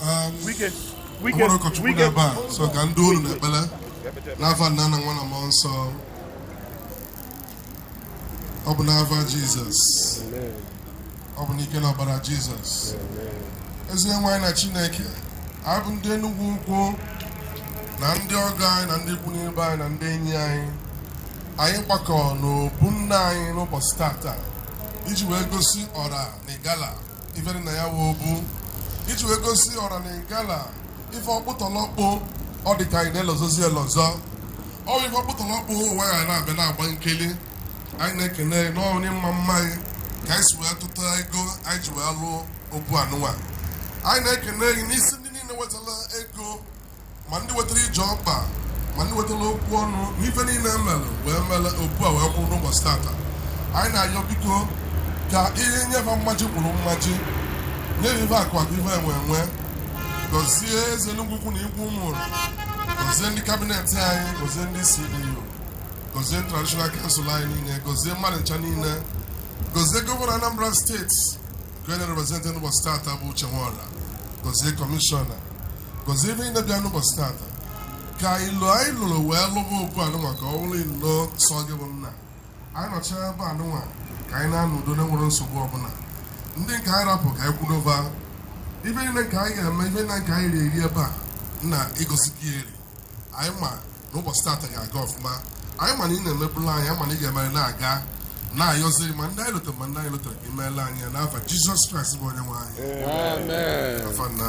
Um, nwere ụkọchukwu na ebe a so ka ndị olu na ekpele n'afa nna na nwa na mmụọ nsọ ọ bụ n'afa jizọs ọ bụ n'ike na ọbara jizọs eze nwe anyị na chineke anyị bụ ndị enugwu ukwu na ndị ọgọ anyị na ndị ikwu na ibe anyị na ndị enyi anyị anyị gbakọ n'obu nna anyị n'ụbọchị tata iji wee gosi ọra na igala ife dị na ya wee obu iji wee gosi ọra na igala ife ọkpụtọlọkpụ ọ dị ka anyị na-elozozi elozo ọ bụ ife ọkpụtọlọkpụ ụwa ya na-abịa na-agba nkili anyị na-ekene gị na-enye mma mma anyị ka anyị si wee tụta ego anyị ji wee lụọ obu anụnwa anyị na-ekene gị n'isi ndị niile wetara ego ma ndị wetara ije ọkpa ma ndị wetara okwu ọnụ na ife niile e melụ wee mere obu a wee kwụrụ n'ụbọchị tata anyị na-ayọ biko ka ị nye fa mmaji kwuru mmaji nye ife akụ akụ ife enwe enwe gọzie eze enugwu ukwu na igwe ụmụnri gọzie ndị kabinet anyị gọzie ndị ceo gọzie traditional council anyị niile gọzie mmadụ ncha niile gọzie gọvanọ anambra steeti Gọzie representị n'ụbọchị tata bụ Uche Nworah, gọzie kọmishọna, gọzie ebe ịna bịa n'ụbọchị tata ka ọlụ anyị lụrụ wee lụba obu anụnwa ka ọ bụrụ ilo sọ gị bụ nna anyị nọchara ebe anụnwa ka anyị na-anụ udo na-enwerọ nsogbu ọbụla ndị nke anyị rapụ ka anyị kwudoba ife niile nke anyị ga-eme ibe na nke anyị eri ebe a na igosi gị eri anyị ma n'ụbọchị tata ga-aga ọfụma anyị ma na ị na-emebulu anyị anyị ma na ị ga-emere na-aga na-ayọzi ma ndị anyị lotara ma ndị anyị lotarọ ka i meela anyị ya n'afa jizọs kraịst bụ onye nwe anyị afa nna